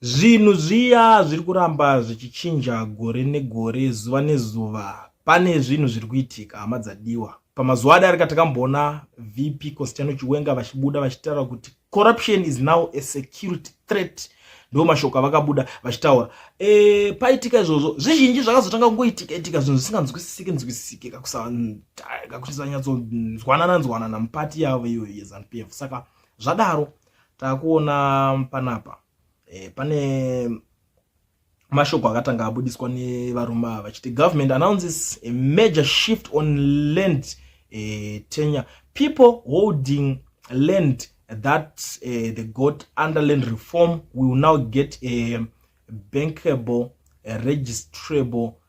Zvinhu zviya zviri kuramba zvichichinja gore negore zuva nezuva. Pane zvinhu zviri kuitika hama dzadiwa. Pamazuva adarika takamboona VP Constantino Chiwenga vachibuda vachitaura kuti corruption is now a security threat ndo mashoko avakabuda vachitaura e, paitika izvozvo zvizhinji zvakazotanga kungoitika itika zvinhu zvisinganzwisisike nzwisisike kakusanyatsodzwanana nzwanana mupati yavo iyoyo yezanu p f saka zvadaro takuona panapa eh, pane mashoko akatanga abudiswa nevarume ava vachiti government announces a major shift on land eh, tenure people holding land that eh, they got under land reform will now get a bankable a registrable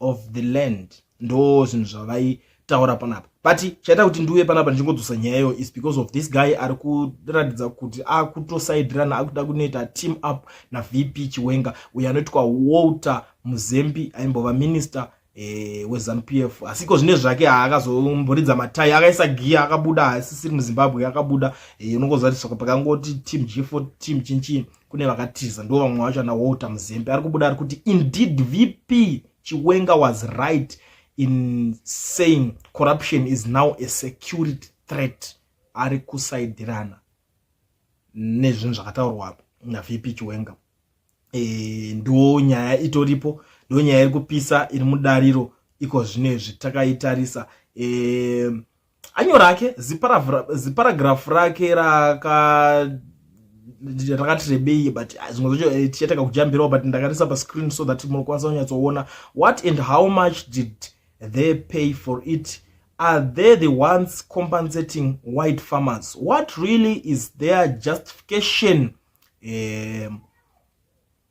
of the land ndo zvinhu zvavaitaura panapa but chaita kuti ndiuye panapa ndichingodzosa nyaya iyo is because of this guy ari kuratidza kuti akutosaidirana akuda kunoita team up navp chiwenga uyo anoitwa walter muzembi aimbova minister Eh, wezanup f asiko zvine zvake haakazomboridza matai akaisa giya akabuda haasisiri muzimbabwe akabuda eh, unongoziva tisoko pakangoti team g4 team chinchii kune vakatiza ndo vamwe vacho ana walter muzembe ari kubuda ari kuti indeed vp chiwenga was right in saying corruption is now a security threat ari kusaidirana nezvinhu zvakataurwa navp chiwenga e, eh, ndo nyaya itoripo ndo nyaya iri kupisa iri mudariro iko zvino izvi takaitarisa e, anyo rake ziparagirafu rake raka rakati rebei but ah, zvimwe zvacho eh, tichatanga kujambirawo but ndakarisa pascreen so that munokwanisa kunyatsoona what and how much did they pay for it are they the ones compensating white farmers what really is their justification um,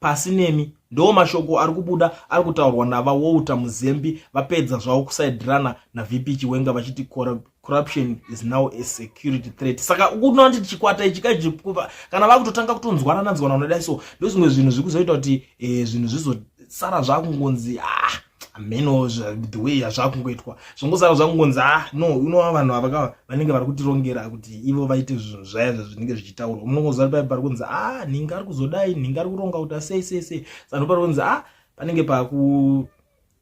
pasi nemi ndoo mashoko ari kubuda ari kutaurwa nava walter muzembi vapedza zvavo kusaidirana navp chiwenga vachiti corruption is now a security threat saka ukuona kuti chikwata ichi kajikuva kana vakutotanga kutonzwanana nzwanana dai so ndozvimwe zvinhu zviri kuzoita kuti eh, zvinhu zvizosara zvakungonzi ah hameno the way yazvakungoitwa zvongosara zvakungonzi a ah, no unova vanhu ava ka vanenge vari kutirongera kuti ivo vaite zvinhu zvaya zvinenge zvichitaurwa unongoziva paye pari kunzi a ah, nhinga ari kuzodai nhinga ari kuronga kuti asei sei sei sano pari kunzi a ah, panenge paku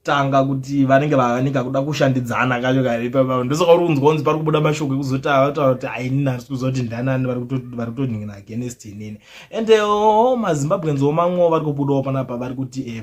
tanga kuti vanenge vavanika kuda kushandidzana kacho kaipapavo ndosaka uri kunzwa kunzi pari kubuda mashoko ekuzotava vataura kuti ainini asi kuziva kuti ndanani vari kutonhingina against inini and eh, o oh, mazimbabweans omamwewo vari kubudawo panapa vari kuti e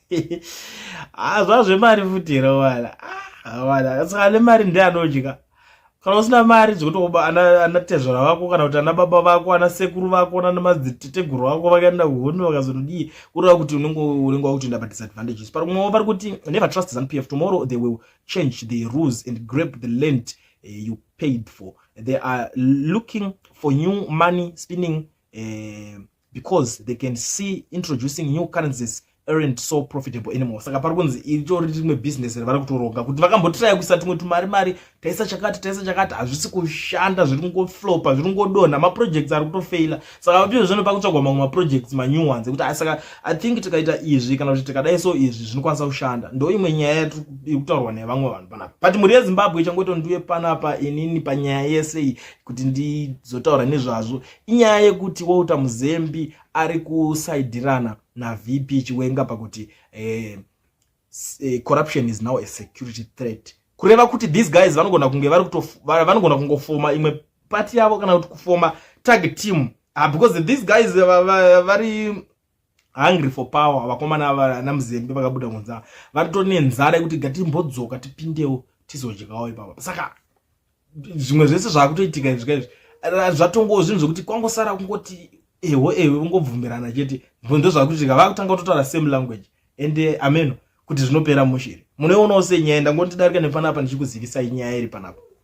ah, zvazvemari futi here wala ah, wala saka ane mari ndi anodya kana usina mari dzikutoba anatezvara vako kana kuti ana baba vako ana sekuru vako nana madziteteguru vako vakaenda kuhondo vakazonodii kureva kuti unenge unenge wakutoenda padisadvantages pari kumwewo vari kuti never trust zanu p f tomorrow they will change the rules and grab the land eh, you paid for they are looking for new money spinning uh, because they can see introducing new currencies aren't so profitable anymore saka pari kunzi itori rimwe business ravari kutoronga kuti vakambotiraya kuisa tumwe tumari mari taisa chakati taisa chakati hazvisi kushanda zviri kungoflopa zviri kungodonha maprojects ari kutofeila saka vapio zvino pakutsvagwa mamwe maprojects manew ones ekuti ah, saka i think tikaita izvi kana kuti tikadai so izvi zvinokwanisa kushanda ndo imwe nyaya yatiri kutaurwa nevamwe vanhu panapa but mhuri yezimbabwe ichangotondiwe panapa inini panyaya yese iyi kuti ndizotaura nezvazvo inyaya yekuti walter muzembi ari kusaidirana navp chiwenga pakuti eh, eh, corruption is now a security threat kureva kuti these guys vanogona kunge vanogona kungofoma imwe pati yavo kana kuti kufoma tag team ah, because these guys vari hungry for power vakomana vana muzembe vakabuda kunza vatone nzara yekuti gatimbodzoka tipindewo tizodyawo ipapa saka zvimwe zvese zvakutoitika izvi kaizvi zvatongowo zvinhu zvekuti kwangosara kungoti eho eho kungobvumirana chete ndo zvakuitika vakutanga kutotaura same language and eh, ameno kuti zvinopera mushiri munoonawo senyaya ndangondidarika nepanapa ndichikuzivisai nyaya iri panapa